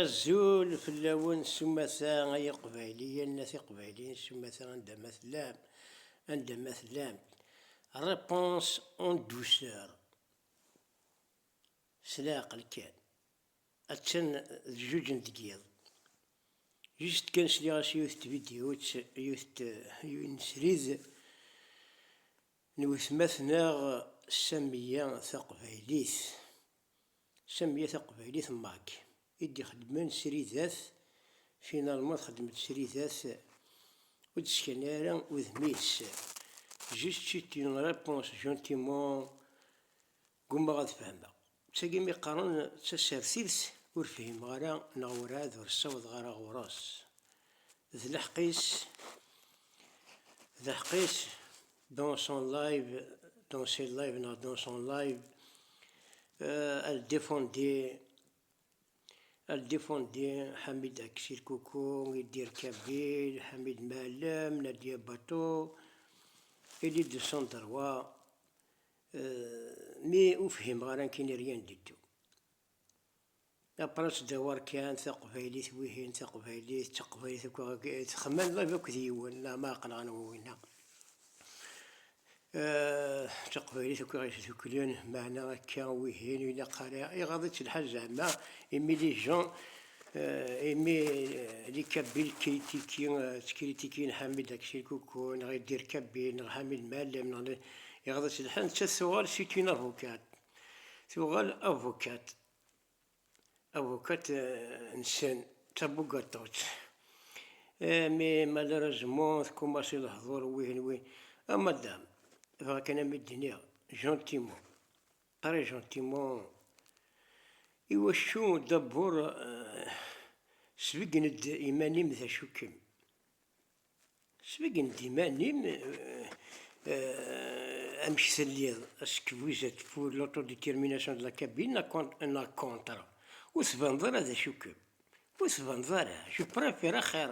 Azul fell-awen s umata ay iqbayliyen at iqbayliyen s umata anda ma tellam anda ma tellamt Réponse en douceur S leɛqel kan Attan d jjuj n tgiḍ Juste kan sliɣ-as yiwet tvidyut yiwet yiwen n srid N wetma-t neɣ Samiya Taqbaylit Samiya Taqbaylit Mac i d-ixeddmen sridat, finalman txeddem-d sridat, ur d-skan ara udem-is, juste une réponse gentiment Gummaɣ ad fehmeɣ. D tagi mi qqaren d tasertit ur fhimeɣ ara neɣ werɛad ur ssawḍeɣ ara ɣur-s. D leḥq-is, d leḥq-is, dans son live, dans ses lives neɣ dans son live, elle défendait, elle défendait Hamid Aksir Koukou, Idir Kabil, Hamid Maalem, Nadia Bato, il est de son droit, Euh, mi ur fhimeɣ ara nekkini rien du tout. Après ttdawar kan taqbaylit wihin taqbaylit d taqbaylit akk texman live akked yiwen neɣ ma aqlaɣ anwa winna. Euh, taqbaylit akk iɣis tuklen meɛna akka wihin ilaq ara iɣaḍ-itt lḥal zeɛma imi les gens Imi li Kabbil tkritiki ttkrittikin Ḥamid akked Sirkuku neɣ Iddir Kabbil neɣ Ḥamid Mɛellem neɣ ne iɣḍes lḥal nettat tuɣal c'est une avocate tuɣal avocate avocate nsen d tabugaṭut mais malheureusement tkumas i lehdur wihin win ah madame bɣa kan a mi d-nniɣ gentiment Très gentiment, Iwacu dabur sbeggen-d iman-im d acu-kem? Sbeggen-d iman-im amek telliḍ, est-ce que vous êtes pour l'autodétermination de la Kabylie na kontra? Ur tbaneḍ ara d acu-kem. Ur tbaned ara, je prefere axir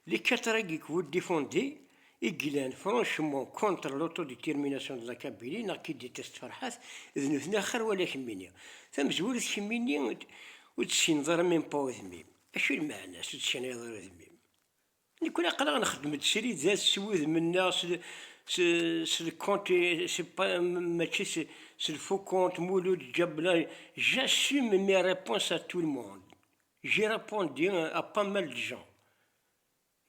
les quatre règles que vous défendez i yellan franchement contre l'autodétermination de la Kabylie neɣ qui déteste Ferhat d nutni axir wala kemmini. Tamezwarut kemmini ur tessineḍ ara même pas udmim. Acu lmeɛna-s ur tecnayeḍ ara udmim? Nekkni aql-aɣ nxeddem-d srid-at s wudem-nneɣ, s lkont, mačči s lfukont, Mulud Jabla, J'assume mes réponses à tout le monde, j'ai répondu à pas mal de gens.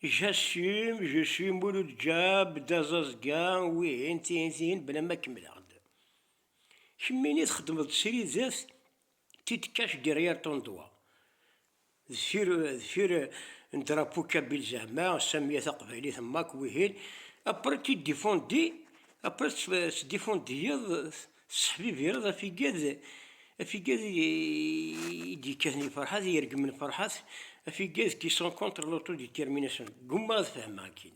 J'assume, je suis Mulud Jab, d aẓaẓga, wihin, tihin, tihin, bla ma kemmleɣ-d. Kemmini txeddmeḍ-d srid-at? Petite cache derrière ton doigt, deffir, deffir un drapeau kabyle zeɛma, samia taqbaylit am akk wihin, après tu défendis, après tettdifundyeḍ, tesseḥbibireḍ afigad, afigad i d-yekkaten i Ferḥat, i ireggmen Ferḥat, afigad qui sont contre l'autodétermination, ggummaɣ ad fehmeɣ akkin.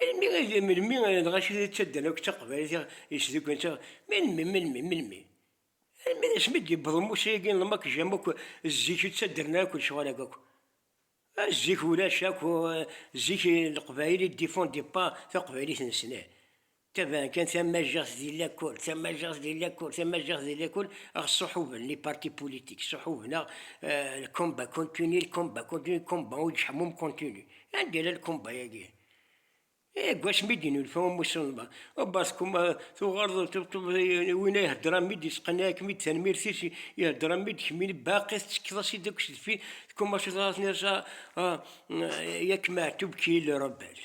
Melmi i d melmi dɣa acu i ttaddan akk d taqbaylit i ɣ-yesduklen tt-id, melmi, melmi, melmi? Almi d asmi i d-yewweḍ umusa-agi n lmakjam akk, zik ur ttaddan ara akk lecɣal-agi akk. Zik ulac akk, zik leqbayel ils défendent pas taqbaylit-nsen. Taban kan tamajeɣt di lakul, tamajeɣt di lakul, tamajeɣt di lakul, aɣ ṣuḥuben les partis politiques, ṣuḥuben aɣ le combat continue, le combat continue, le combat ur yettḥemmum continue. Anda yella le combat yagi? Deg wasmi i d-yennulfa umusulman, abat kum tuɣaleḍ win ay ihedder am id yesqenɛikem-id tanmirt-is ihedder am id kemmini baqi tettekkeḍ-as-id akk s deffir, kum acu tenniḍ-as a yak Meɛtub qui est le rebelle?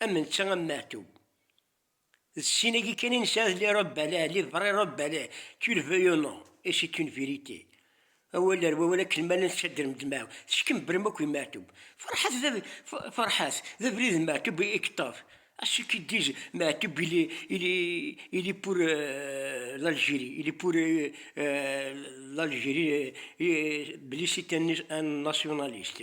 Am netta am Meɛtub. D sin-agi kan i nesɛa d les Rebelles, les vrais Rebelles, tu le veuilles ou non, et c'est une vérité. Awal ar wawal akken ma llan ttadren ddmaɛu, teskembrem akk i Meɛtub. Ferḥat d Ferḥat, d abrid n Meɛtub i yeṭṭef. À ceux qui disent Meɛtub il est, il est, il est pour l'Algérie, il est pour l'Algérie, belli c'est un nationaliste.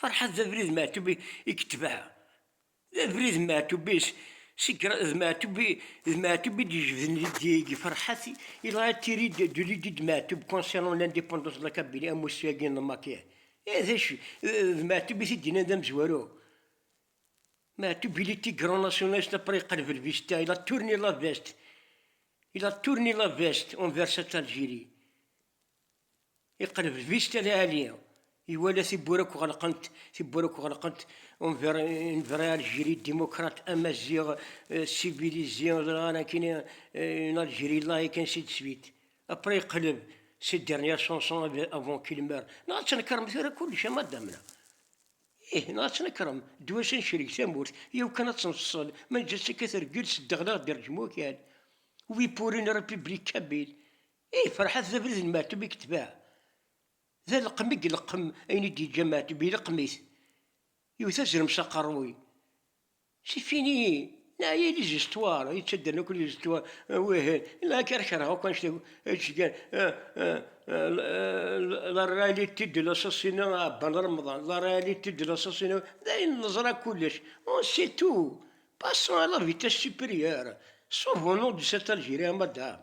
Ferḥat d abrid Meɛtub i yetbeɛ, d abrid Meɛtub i d Meɛtub d Meɛtub i d-yejbden deg Ferḥat, il a été ri de l'idée de Meɛtub concernant l'indépendance de la Kabylie amussu-agi n Lmakia, ih d acu, d Meɛtub i t-id-yennan d amezwaru, Meɛtub il était grand nationaliste après yeqleb lvista, il a tourné la veste, il a tourné la veste envers cette Algérie. Iqleb lbic kan a Ali, iwala tiwwura akk ɣelqent, tiwwura akk ɣelqent, une vraie Algérie démocrate, amaziɣ civilisé, ẓran akkin, une Algérie laïque, ainsi de suite. Après iqleb ses dernières chansons avant qu'il meure. Neɣ ad tnekrem tura kullec a madame-na. Ih, neɣ ad tnekrem, ddwa-s ad necreg tamurt, yaw kan ad tenfṣel, ma neǧǧa-tt akka treggel, s ddeɣleɣ d rejmu akal. Oui pour une République kabyle. I ferḥat d abrid n Meɛtub i yetbeɛ, d aleqqem i yeleqqem ayen i d-yeǧǧa Meɛtub, ileqqem-it, yewwet azrem s aqerruy, si fini, neɛya lizistwar yettaddan akk lizistwar, wih, la kar kerheɣ akk annect akk, ečč kan, la réalité de l'assassinat a Ɛebban Remḍan, la réalité de l'assassinat, d ayen neẓra kullec, on sait tout, passons à la vitesse supérieure, sauvons-nous de cet Algérien, madame,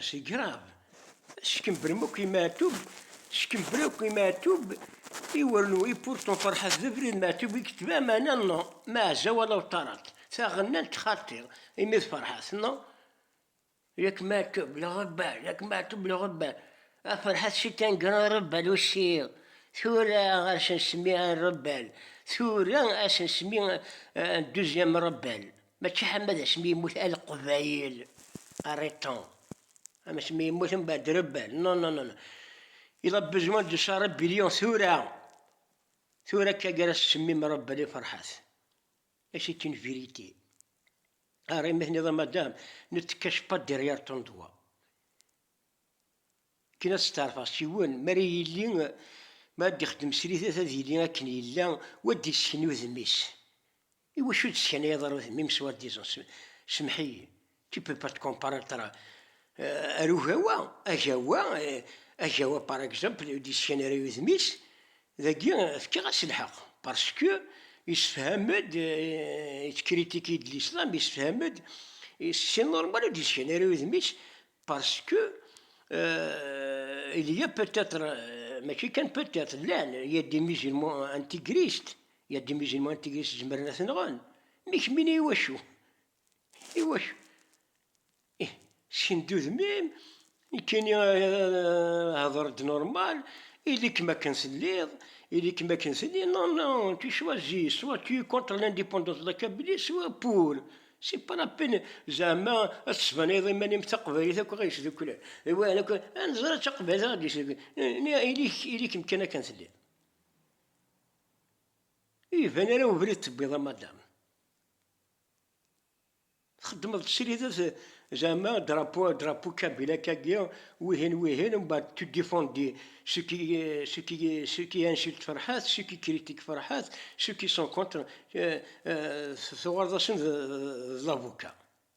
C'est grave! Skembren akk i Meɛtub, skembren akk i Meɛtub, i wernu i Purton Ferḥat d abrid Meɛtub i yetba meɛna no Meɛza wala Uṭarat, taɣennant xaṭi imi d Ferḥat no Yak Meɛtub le rebelle, yak Meɛtub le rebelle, a Ferḥat c'est un grand rebelle aussi, tura a s-nsemmi un rebelle, tura a s-nsemmi un deuxième rebelle. Mačči ḥamad asmi yemmut a leqbayel arrêtant am asmi yemmut am badrebal non non non il a besoin de sa rébellion tura tura akka gar as semmi mrebel i ferḥat et c'est une vérité ara imi teniḍ a madame ne te cache pas derrière ton doigt akken ad steɛrfeɣ s yiwen mi ara yili mi ara d-ixdem srid ad yili akken yella wa d-yessken udem-is Iwacu d-teskanayeḍ ar udem-im s wa disant s semḥ-iyi, tu peux pas te comparer tra ar ugawa, agawa, agawa par exemple ur d-yeskan ara i udem-is, dagi fkiɣ-as lḥeq parce que yessefham-d, il critique de l'islam, yessefham-d, c'est normal ur d-yeskan ara i udem-is parce que il ya peut-être, mačči kan peut-être, llan, il ya des musulmans integristes, Ya d imiziman n tegrest zemren a t-nɣen, mi kemmini i wacu? I wacu? Ih, sken-d udem-im, nekkini hder-d normal, ili-kem akken telliḍ, ili-kem akken telliḍ, non, non, tu choisis, soit tu es contre l'indépendance de la Kabylie, soit pour, c'est pas la peine zeɛma ad tesbaneyeḍ iman-im d taqbaylit akk ɣer yesduklen, d wayen akk, ad neẓer d taqbaylit ɣer d-yesduklen, ili-kem kan akken telliḍ. Iban ara ubrid tewwiḍ a madam. Txeddmeḍ tesrideḍ zeɛma drapo drapo kabilakagi wihin wihin mbeɛd tu défendis ce qui ce qui ce qui insulte Ferhat ce qui critique Ferhat ce qui sont contre tuɣaleḍ-asen d l'avocat.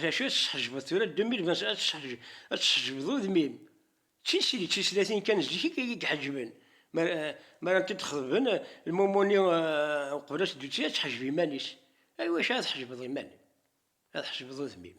D acu ad tesḥejbeḍ tura deux mille vingt ad ad tesḥejbeḍ udem-im? D tisli d tislatin kan zik i k-iḥeǧben mi ara tent-id-xeḍben lmumu-nni uqbel ad teddu ad teḥjeb iman-is. I wacu ara tḥejbeḍ iman-im? Ad tḥejbeḍ udem-im.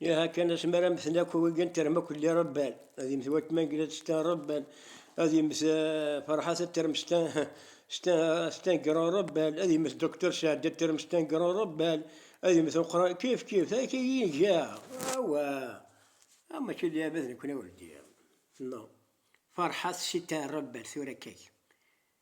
Yaha kan asmi ara mmten akk wigi n terma kulli rebban, ad yemmet watma n Gilad stan rebban, ad yemmet Ferḥa tatterm stan stan gro rebban, ad yemmet Doctor Saɛd tatterm stan gro rebban, ad yemmet Uqran kif kif akka i iga awa ah mačči d ayen d nekni ur d non Ferḥa ssi tan rebban tura akka-k